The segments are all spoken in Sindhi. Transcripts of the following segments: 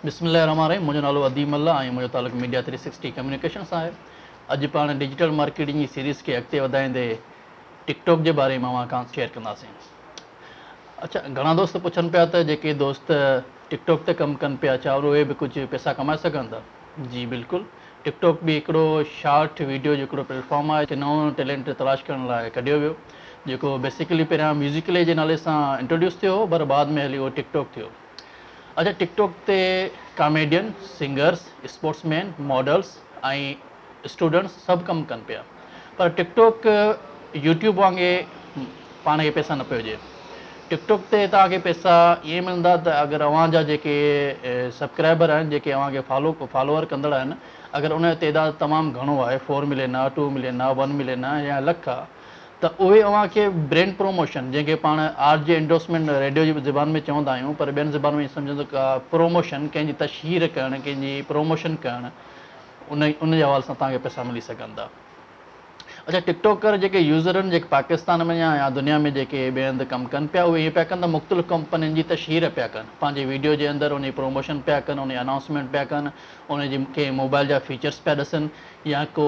بسم الله الرحمٰن الرحيم منهنجو نالو اديم الله ۽ منهنجو تعلق ميڊيا ٿري سڪسٽي ڪميونيڪيشن سان آهي اڄ پاڻ ڊجيٽل مارڪيٽنگ جي سيريز کي اڳتي وڌائيندي ٽڪ ٽاڪ جي باري ۾ اوهان کان شيئر ڪنداسين اڇا گهڻا دوست پڇن پيا ته جيڪي دوست ٽڪ ٽاڪ تي ڪم ڪن پيا ڇا اهي به ڪجهه پيسا ڪمائي سگهن ٿا جي بلڪل ٽڪ ٽاڪ به هڪڙو شارٽ ويڊيو جو هڪڙو پليٽ فارم آهي جتي نئون ٽيلينٽ تلاش ڪرڻ لاء ڪڍيو ويو جيڪو بيسيڪلي پهريان ميوزيڪلي جي نالي سان انٽروڊيوس ٿيو هو پر بعد ۾ هلي اهو ٽڪ ٽاڪ ٿيو اڇا ٽڪ ٽاڪ تي comedian singers sportsmen models ۽ students سڀ ڪم ڪن پيا پر ٽڪ ٽوڪ يوٽيوب وانگي پاڻ کي پئسا نه پيو ڏئي ٽڪ ٽوڪ تي توهان کي پئسا ائين ملندا ته اگر اوهان جا جيڪي سبڪرائبر آهن جيڪي اوهان کي فالو فالوور ڪندڙ آهن اگر ان جو تعداد تمام گهڻو آهي فور ملين آهي ٽو ملين آهي ون ملين آهي يا لک آهي ته اهي اوهان کي برينڊ پروموشن جنهن کي پاڻ آر جي انڊورسمينٽ ريڊيو جي زبان ۾ چوندا آهيون پر ٻين زبان ۾ ائين سمجهندو ڪا پروموشن ڪنهن جي تشهير ڪرڻ ڪنهن جي پروموشن ڪرڻ ان ان جي حوالي سان توهان کي پئسا ملي سگهن ٿا اڇا ٽڪ ٽوڪر جيڪي يوزر آهن جيڪي پاڪستان ۾ يا يا دنيا ۾ جيڪي ٻئي هنڌ ڪم ڪن پيا اهي ائين پيا ڪن ته مختلف ڪمپنين جي تشهير پيا ڪن پنهنجي ويڊيو جي اندر ان جي پروموشن پيا ڪن ان جي انائونسمينٽ پيا ڪن ان جي ڪنهن موبائل جا فيچرس پيا ڏسن يا ڪو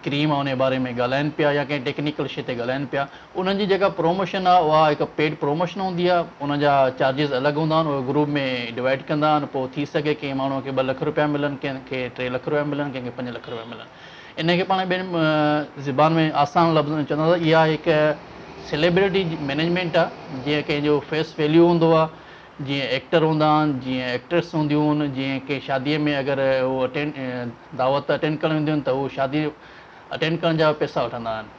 ڪريم آهي ان جي باري ۾ ڳالهائن پيا يا ڪنهن ٽيڪنيڪل شي تي ڳالهائن پيا انهن جي جيڪا پروموشن آهي اها هڪ پيڊ پروموشن هوندي آهي ان جا چارجز الڳ هوندا آهن اهي گروپ ۾ ڊوائيڊ ڪندا آهن پوء ٿي سگهي ڪنهن ماڻهو کي ٻه لک روپيا ملن ڪنهن کي ٽي لک روپيا ملن ڪنهن کي پنج لک روپيا ملن ان کي پاڻ ٻين زبان ۾ آسان لفظن ۾ چونداسين ته اها هڪ سيليبريٽي مينيجمينٽ آهي جيئن ڪنهن جو فيس ويليو هوندو آهي جيئن ايڪٽر هوندا آهن جيئن ايڪٽريس هونديون آهن جيئن ڪنهن شادي ۾ اگر هو اٽينڊ دعوت اٽينڊ ڪرڻ وينديون آهن ته هو شادي اٽينڊ ڪرڻ جا پئسا وٺندا آهن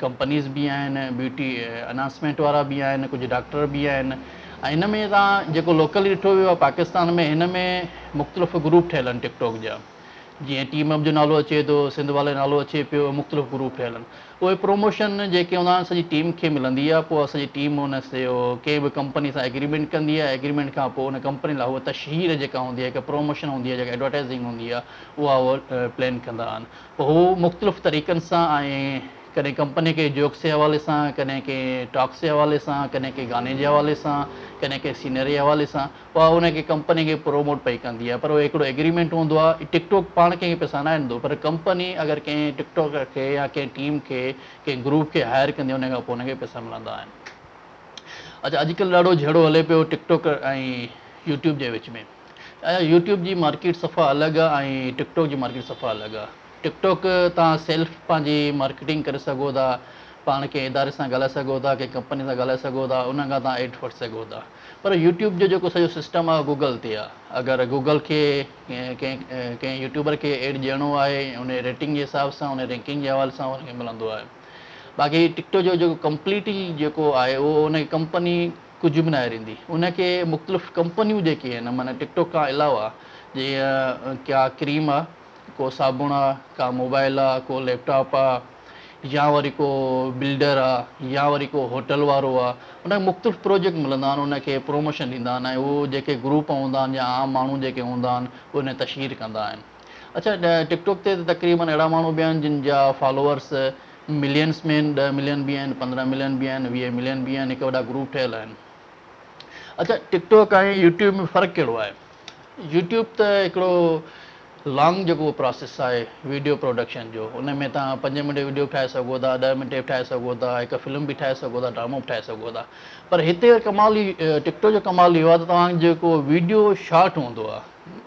ڪمپنيز به آهن، بيوٽي انهانسمينٽ وارا به آهن، ڪجهه ڊاڪٽر به آهن ۽ هن ۾ تان جيڪو لوڪلي ڏٺو ويو آهي پاڪستان ۾ هن ۾ مختلف گروپ ٺهيل آهن ٽڪ ٽاڪ جا جيئن ٽيم اپ جو نالو اچي ٿو سنڌ والي نالو اچي پيو مختلف گروپ ٺهيل آهن اهي پروموشن جيڪي هوندا آهن سڄي ٽيم کي ملندي آهي پوء سڄي ٽيم ان سيو ڪنهن به ڪمپني سان ايگريمينٽ ڪندي آهي ايگريمينٽ کان پوء ان ڪمپني لاء هو تشهير جيڪا هوندي آهي هڪ پروموشن هوندي آهي جيڪا ايڊورٽائزنگ هوندي آهي اها هو پلين ڪندا آهن هو مختلف طريقن سان آئي ڪڏهن ڪمپني ڪي جوڪس جي حوالي سان ڪڏهن ڪي ٽاڪس جي حوالي سان ڪڏهن ڪي گاني جي حوالي سان ڪڏهن ڪي سينري جي حوالي سان اها ان کي ڪمپني کي پروموٽ پئي ڪندي آهي پر اهو هڪڙو ايگريمينٽ هوندو آهي هي ٽڪ ٽوڪ پاڻ ڪنهن کي پئسا ناهي ڏيندو پر ڪمپني اگر ڪنهن ٽڪ ٽوڪر کي يا ڪنهن ٽيم کي ڪنهن گروپ کي هائر ڪندي ان کان پوء ان کي پئسا ملندا آهن اڇا اڄ ڪلهه ڏاڍو جهيڙو هلي پيو ٽڪ ٽوڪر ۽ يوٽيوب جي وچ ۾ ايا يوٽيوب جي مارڪيٽ صفا الڳ آ ۽ ٽڪ ٽاڪ جي مارڪيٽ صفا الڳ آ ٽڪ ٽاڪ تان سيلف پنهنجي مارڪيٽنگ ڪري سگهو ٿا پاڻ ڪنهن اداري سان ڳالهائي سگهو ٿا ڪنهن ڪمپني سان ڳالهائي سگهو ٿا انهن کان تان ايڊ وٺي سگهو ٿا پر يوٽيوب جو جيڪو سڄو سسٽم آ گوگل تي آ اگر گوگل کي ڪنهن ڪنهن يوٽيوبر کي ايڊ ڏيڻو آهي ان جي ريٽنگ جي حساب سان ان جي رينڪنگ جي حوالي سان ان کي ملندو آهي باقي ٽڪ ٽاڪ جو جيڪو ڪمپليٽ ئي جيڪو آهي اهو ان جي ڪمپني ڪجهه به ناهي ريندي ان کي مختلف ڪمپنيون جيڪي آهن معنيٰ ٽڪ ٽاڪ کان علاوه جيئن ڪا ڪريم آ ڪو صابڻ آ ڪا موبائل آ ڪو ليپ ٽاپ آ يا وري ڪو بلڊر آ يا وري ڪو هوٽل وارو آ ان کي مختلف پروجيڪٽ ملندا آهن ان کي پروموشن ڏيندا آهن ۽ هو جيڪي گروپ هوندا آهن يا عام ماڻهو جيڪي هوندا آهن ان تشهير ڪندا آهن اڇا ٽڪ ٽاڪ تي ته تقريبن اهڙا ماڻهو به آهن جن جا فالوورس ملينس ۾ آهن ڏهه ملين به آهن پندرهن ملين به آهن ويهه ملين به آهن هڪ وڏا گروپ ٺهيل آهن اڇا ٽڪ ٽاڪ ۽ يوٽيوب ۾ فرق ڪهڙو آهي يوٽيوب ته هڪڙو لانگ جيڪو پراسيس آهي ويڊيو پروڊڪشن جو ان ۾ تان پنج منٽ ويڊيو به ٺاهي سگهو ٿا ڏهه منٽ به ٺاهي سگهو ٿا هڪ فلم به ٺاهي سگهو ٿا ڊرامو به ٺاهي سگهو ٿا پر هتي ڪمال ٽڪ ٽاڪ جو ڪمال اهو آهي ته توهان جيڪو ويڊيو شارٽ هوندو آهي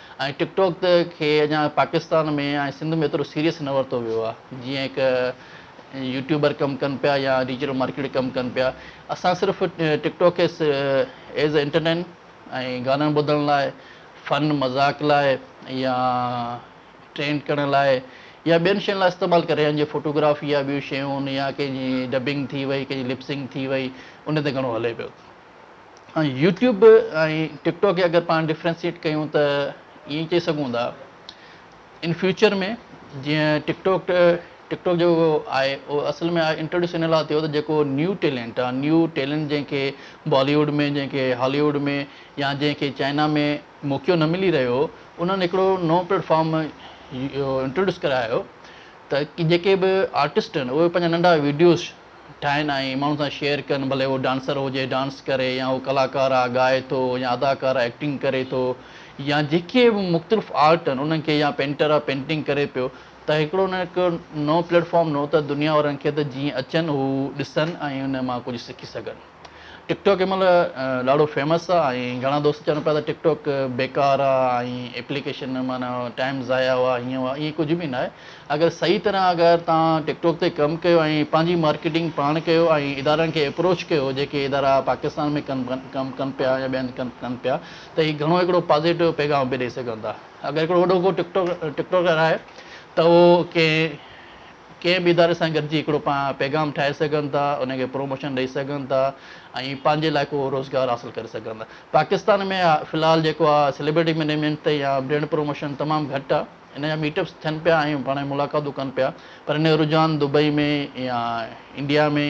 ۽ ٽڪ ٽاڪ کي اڃا پاڪستان ۾ ۽ سنڌ ۾ ايترو سيريس نه ورتو ويو آ جيئن هڪ يوٽيوبر ڪم ڪن پيا يا ڊيجيٽل مارڪيٽر ڪم ڪن پيا اسان صرف ٽڪ ٽاڪ کي ايز اي انٽرٽين ۽ گانن ٻڌڻ لاء فن مذاق لاء يا ٽرينڊ ڪرڻ لاء يا ٻين شين لاء استعمال ڪري رهيا آهن جيئن فوٽوگرافي يا ٻيون شيون يا ڪنهن جي ڊبنگ ٿي وئي ڪنهن جي لپسنگ ٿي وئي ان تي گهڻو هلي پيو. يوٽيوب ۽ ٽڪ ٽاڪ کي اگر پاڻ ڊفرينسيٽ ڪيون ته ائين چئي سگهون ٿا ان فيوچر ۾ جيئن ٽڪ ٽاڪ ٽڪ ٽاڪ جيڪو آهي اهو اصل ۾ انٽروڊيوس ان لاء ٿيو ته جيڪو نيو ٽيلنٽ آهي نيو ٽيلنٽ جنهن کي بالي ووڊ ۾ جنهن کي هالي ووڊ ۾ يا جنهن کي چائنا ۾ موقعو نه ملي رهيو انهن هڪڙو نو پليٽ فارم انٽروڊيوس ڪرايو ته جيڪي به آرٽسٽ آهن اهي پنهنجا ننڍا ويڊيوز ٺاهن ۽ ماڻهن سان شيئر ڪن ڀلي هو ڊانسر هجي ڊانس ڪري يا هو ڪلاڪار آ ڳائي ٿو يا اداڪار آ ايڪٽنگ ڪري ٿو يا جيڪي به مختلف آرٽ آهن انهن کي يا پينٽر آ پينٽنگ ڪري پيو ته هڪڙو نه هڪ نئون پليٽ فارم نئون ته دنيا وارن کي ته جيئن اچن هو ڏسن ۽ ان مان ڪجهه سکي سگهن. ٽڪ ٽاڪ ان مهل ڏاڍو فيمس آ ۽ گهڻا دوست چون پيا ته ٽڪ ٽاڪ بيڪار آ ۽ ايپليڪيشن معنيٰ ٽائيم ضايع آ هيئن هو ائين ڪجهه به ناهي اگر صحيح طرح اگر توهان ٽڪ ٽاڪ تي ڪم ڪيو ۽ پنهنجي مارڪيٽنگ پاڻ ڪيو ۽ ادارن کي اپروچ ڪيو جيڪي ادارا پاڪستان ۾ ڪن ڪم ڪن پيا يا ٻين ڪن ڪن پيا ته هي گهڻو هڪڙو پازيٽو پيغام به ڏئي سگهن ٿا اگر هڪڙو وڏو ڪو ٽڪ ٽاڪ ٽڪ ٽاڪر آهي ته اهو ڪنهن ڪنهن به اداري سان گڏجي هڪڙو پاڻ پيغام ٺاهي سگهن ٿا، ان کي پروموشن ڏئي سگهن ٿا ۽ پنهنجي لاء ڪو روزگار حاصل ڪري سگهن ٿا. پاڪستان ۾ في الحال جيڪو آ سيليبرٽي مينيجمينٽ تي يا برينڊ پروموشن تمام گهٽ آ. ان جا ميٽ اپس ٿين پيا ۽ پاڻ ۾ ملاقاتون ڪن پيا پر ان جو رجحان دبئي ۾ يا انڊيا ۾